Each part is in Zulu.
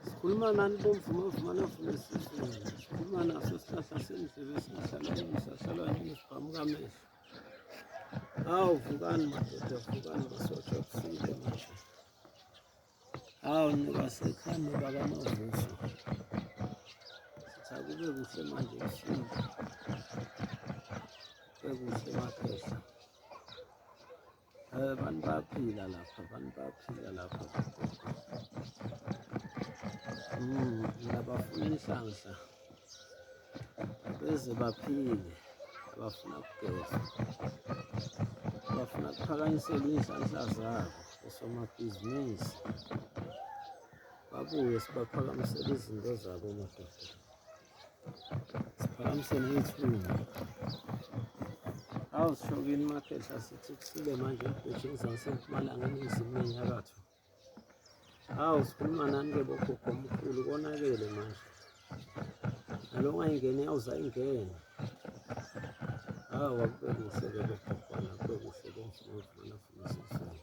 sikhuluma nani bomvuma vuma navuma esizweni sikhuluma naso sihlahla sendlebe sihlala yini sihlalwa yini sibhamuka amehlo hawu vukani madoda vukani masosha kusile manje hawu nibasekhani baba mavuso sakube kuhle manje kusinda kube kuhle makhehla Eh, abantu bayaphila lapha abantu bayaphila lapha mm, ngiyabafuna inhlanhla beze baphile abafuna kugeza bafuna kuphakanyisela iy'nhlanhla zabo osomabhizinisi babuye sibaphakamisele izinto zabo madoda Siphakamisene iy'thunga. Awu sishokile uMakhehla sithi kusile manje ebhejini zasempumalanga eningizimu nenyakatho. Awu sikhuluma nani-ke bogogo omkhulu konakele manje. Nalo ongayingeni yawuza ingene. Awu akube kuhle-ke bogogo akube kuhle bonke bovumana funisisana.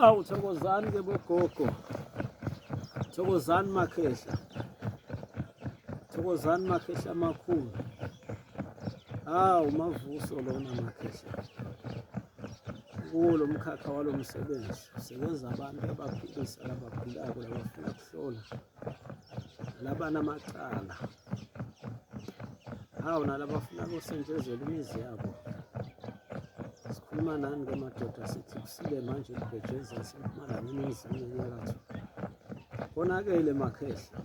Awu thokozani ke bogogo. Thokozani makhehla. Thokozani makhehla amakhulu. Awu mavuso lona makhehla. Kuwo lo mkhakha walo msebenzi sebenza abantu abaphilisa labagulayo labafuna kuhlola. laba namacala hawu nalabafuna kusentshezelwa imizi yabo sikhuluma nani ke madoda sithi kusile manje kubhejeza sempumalanga eningizimu enyakatho konakele makhehla